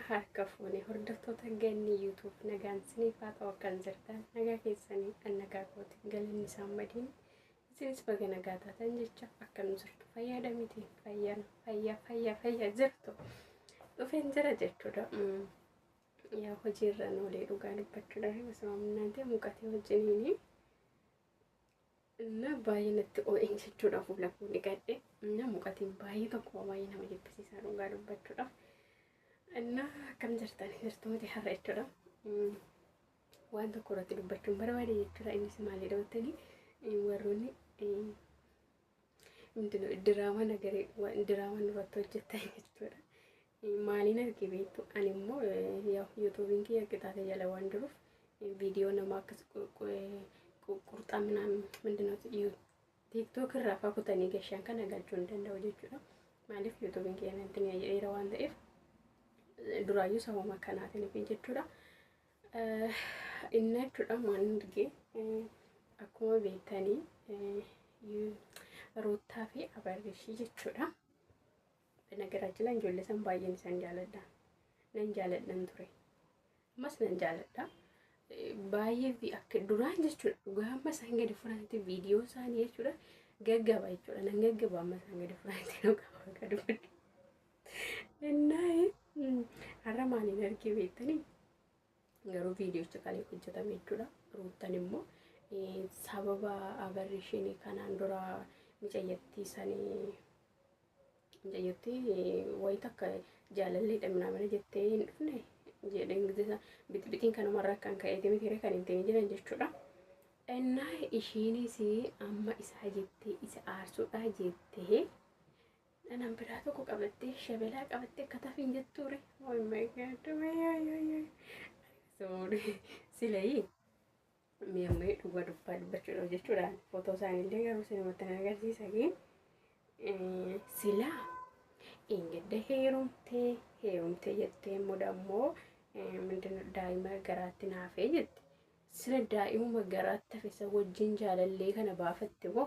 harka fuune hordoftoota ganni yuutuub nagaan siniif haa ta'u akkan jirtan nagaa keessanii kan nagaa kootiin galanni isaan madiin isinis baga nagaa taatan jecha akka nu jirtu fayyaada miti fayyaan fayyaa fayyaa fayyaa jirtu dhufeen jira jechuudha. Yaa hojii irra hin oolee dhugaa dubbachuudhaaf osoo humnaatee muqatee wajjiniin na baay'ee natti oo'een jechuudha fuula koo dhiqadhe na muqatiin baay'ee tokko baay'ee nama jibbisiisaa dhugaa dubbachuudhaaf na akkam jirtan jirtu miti har'a jechuudha waan tokko irratti dubbachuun barbaade jechuudha innis maalidha jettanii warroonni Hundinuu diraamaa nagaree diraamaa nurratti hojjettan jechuudha. Maaliin arge beektu ani immoo yuutuubiin kiyya qixaatee jala waan jiruuf viidiyoo nama akkas qurxaa minaan mindinootti tiiktook irraa faa kutanii gashaan kana galchuu hin danda'u jechuudha. Maaliif yuutuubiin kiyya natti mi'a jedheera waan ta'eef duraayyuu sababa kanaatiin jechuudha. Innaachuudhaan waan arge akkuma beektanii Ruuttaa fi Abarrishii jechuudha. Nagaraachila ijoollee san baay'een isaan jaaladha. Nan jaaladhan ture. Ammas nan jaaladha. Baay'ee akka duraan jechuudha. Dhugaa amma isaan gadi furaanti viidiyoo isaanii jechuudha. Gaggaba jechuudha. Nan gaggaba amma isaan gadi furaanti nu qaba akka dubbadhu. Innaa har'a maaliin argee beektanii? Garuu viidiyocha kan hojjetame jechuudha. Ruuttan immoo sababa abarrishinii kanaan dura micayyattii sanii micayyattii wayi takka jaalallee dhamnaa mana jettee hin dhufne jedhee ingilizisa bixibixiin kanumarraa kan ka'eeti miti kan hin ta'in jiran jechuudha. Innaa ishiinis amma isaa jettee isa aarsuudhaa jettee Dhanan biraa tokko qabattee shabelaa qabattee akka tafiin jettuure. Oh my god. Sorry. Silayii. Mee amma dhugaa dubbaa dubbachuudhaaf jechuudha. Footoo isaaniillee garuu sinumatti na agarsiisa. Silaa. Ingedda heerumtee heerumtee jettee immoo dammoo mindina daa'ima garaatti naafee jette. Sila daa'imuma garaatti hafisa wajjin jaalallee kana baafatte moo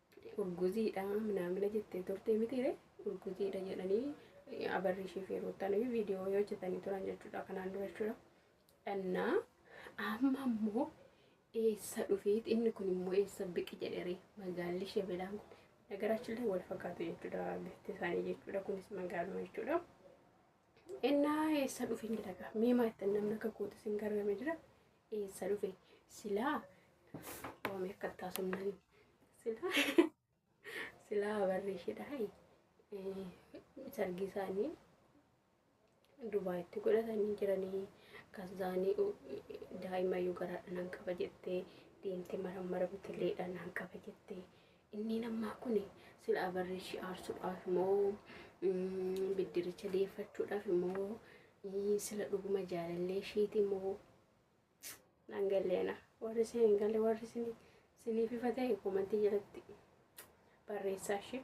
Urguziidha minaamina jettee turte mitiire urguziidha jedhanii abarriishii fi ruuttaan viidiyoo hojjetanii turan jechuudha kanaan dura jechuudha. Dhannaa amma immoo eessa dhufeet inni kun immoo eessa biqi jedhee magaalli shebelaan kun nagaraachillee wal fakkaatu jechuudha bifti isaanii jechuudha kunis magaaluma jechuudha. Innaa eessa dhufin jedhaga miimaa ittiin namni akka kootu isin gargame jira Eessa dhufe? Silaa waamee akka taasumnani. Silaa silaa barri ishidhaa sargii isaanii Dubaayitti godhatanii jiranii kasaanii daa'ima iyyuu garaadhaan qaba jettee deemtee marammaramtilleedhaan qaba jettee Inniin ammaa kun silaa barri ishii aarsuudhaaf moo biddiricha deeffachuudhaaf moo sila dhuguma jaalallee ishiiti moo nan galleena warri isin hin galle warri isin siniif ifa ta'e komantii jalatti barreessaa ishee.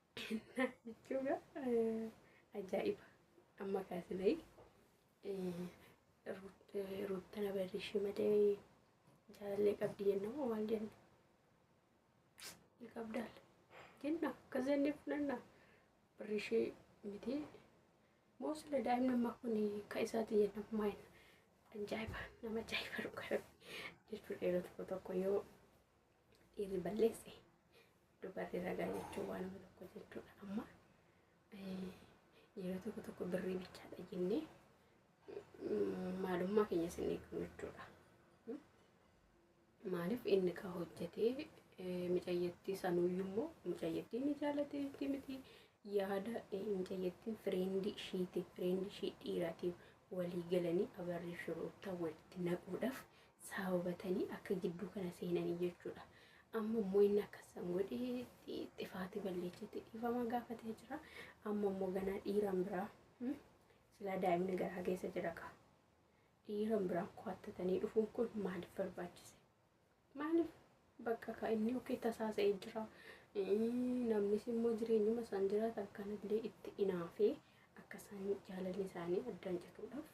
Kennaa jechuun ajaa'iba amma kaasinee ruuttana barreeshee malee jaalallee qabdi jenna moo maal jenna? Ni qabdaal jenna akkas jennee fudhanna barreeshee miti moo sila daa'imni ammaa kun ka isaati jenna maayina ajaa'iba nama ajaa'iba dhugaa jechuun dheeratu tokko yoo dhiirri balleesse Dhugaatii ragaa jechuun waanuma tokko jechuudha. Amma yeroo tokko tokko birrii bichaadha jennee maalummaa keenya sin eegnu jechuudha. Maaliif inni ka hojjetee micayyattii sanuyyuu immoo micayyattii ni jaalateetti miti yaada micayyattiin fireendii ishiitiin fireendii ishii dhiiraatiin walii galanii abarrii shurruuttaa walitti naquudhaaf sababatanii akka gidduu kana seenanii jechuudha. Amma immoo inni akkasaan godhee xifaati balleechetti dhiifama gaafatee jira. Amma immoo ganaa dhiiraan biraa hmm, silaa daa'imni garaa keessa jira kaa. Dhiiraan biraan ko'attatanii dhufuun kun maaliif barbaachise? Maaliif bakka kaa inni yookiin tasaasa'ee jira. Hmm, Namnis immoo jireenyuma isaan jiraatan kanallee itti inaafee akka isaan jaalalli isaanii addaan cituudhaaf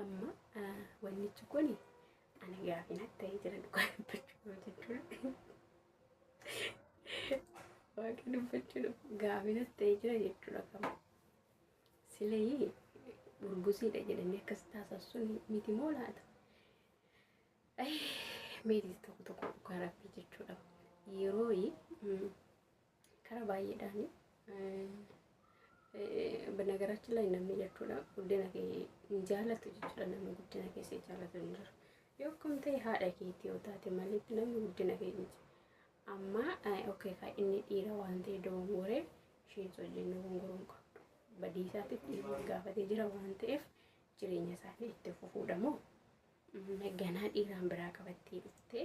Amma wannichi kun ana gaafi natti ta'ee jira dhugaa dubbachuu jechuudha. Waaqa dubbachuu gaafi natti ta'ee jira jechuudha kama. Silee burgusiidha jedhanii akkas taasisuun miti moo laata? Meetis tokko tokko dhugaa rabbii jechuudha. Yeroo Karaa baay'eedhaani. Banagaraachin laay namni jechuudha guddina kee hin jaalatu jechuudha namni guddina kee si jaalatu hin jiru. Yoo akkam ta'e haadha keetii yoo taate malee namni guddina kee hin jiru. Amma okay kaa inni dhiira waan ta'e dogongoree isheens wajjin dogongoruu hin qabdu. Badii isaatiif dhiirri gaafatee jira waan ta'eef jireenya isaanii itti fufuudha moo ganaa dhiiraan biraa qabattee dhuftee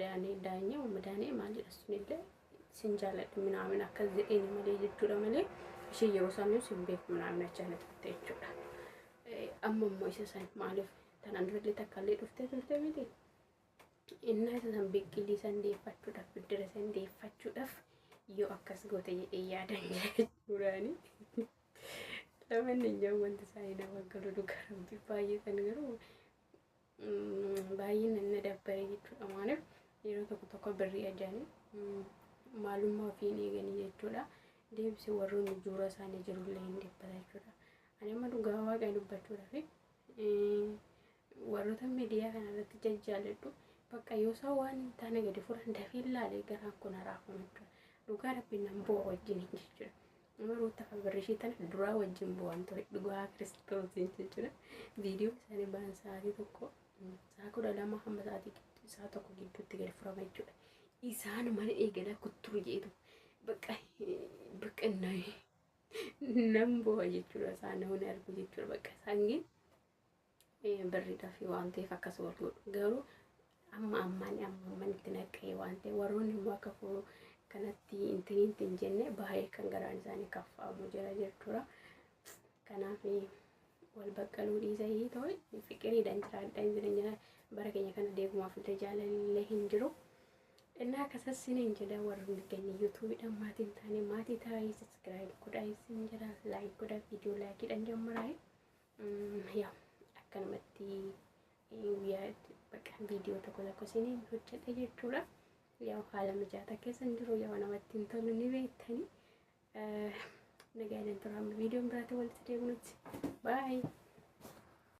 Daanee daanyee umma daanee maal jedha sunillee sin jaaladha minaamin akkas jedheeni malee jechuudha malee ishee yeroo isaanii sin beeku minaamin achaa na turte jechuudha. Amma immoo isa san maaliif tanaan durallee takkaallee dhuftee turte miti. Innaa isa san biqilii san deeffachuudhaaf biddira san deeffachuudhaaf yoo akkas goote jedhee yaadan jechuudhaani. Lamanni iyyuu wanti isaa hin awwaggalu dhugaa rabbi baay'ee san garuu baay'ina na dabbare jechuudha maaliif yeroo tokko tokko birrii ajaanii maalummaa ofii hin eeganii jechuudha deebisee warroonni juura isaanii jirullee hin dhibbata jechuudha ani amma dhugaa waaqaa dubbachuudhaaf warroota miidiyaa kana irratti jajjaaladhu bakka yoo isaa waan hin taane gadi furan dafee laalee garaan kun haraafame jechuudha dhugaa rabbi nan bu'a wajjin jechuudha Nama ruutta kan birrishii tana duraa wajjin bu'aan ture dhugaa kiristoosiin jechuudha. Viidiyoo isaanii ba'an sa'aatii tokko sa'a kudha lama hamma sa'aatii gidduu sa'a tokko gidduutti gad furama jechuudha. Isaan mana eegala kuttuu jeetu bakka bakka nan bu'a jechuudha isaan namni argu jechuudha bakka isaan birriidhaaf waan ta'eef akkas wal godhu garuu amma ammaan amma ammaan itti naqqee waan ta'e warroonni immoo akka koo kanatti intiniinti hin jenne baay'ee kan garaan isaanii kaffaamu jira jechuudha. Kanaaf wal baqqaluu dhiisa hii ta'e fiqiriidhaan jiraadhaan jireenya bara keenya kana deegumaaf illee jaalallee hin jiru. Innaa akkasas sin hin jedha warroonni keenya yuutuubiidhaan maatiin taane maatii taa'ee saskiraayib godhaa isin jira laayik godhaa viidiyoo laayikiidhaan jammaraa. Yaa akkanumatti guyyaa itti bakka viidiyoo tokko tokko isiniin hojjedha jechuudha. Yaa haala mijaata keessan jiru yaa namatti hin tolu ni beektani. Nagaan hin tura amma viidiyoon biraatti walitti deebinutti. Baay'ee.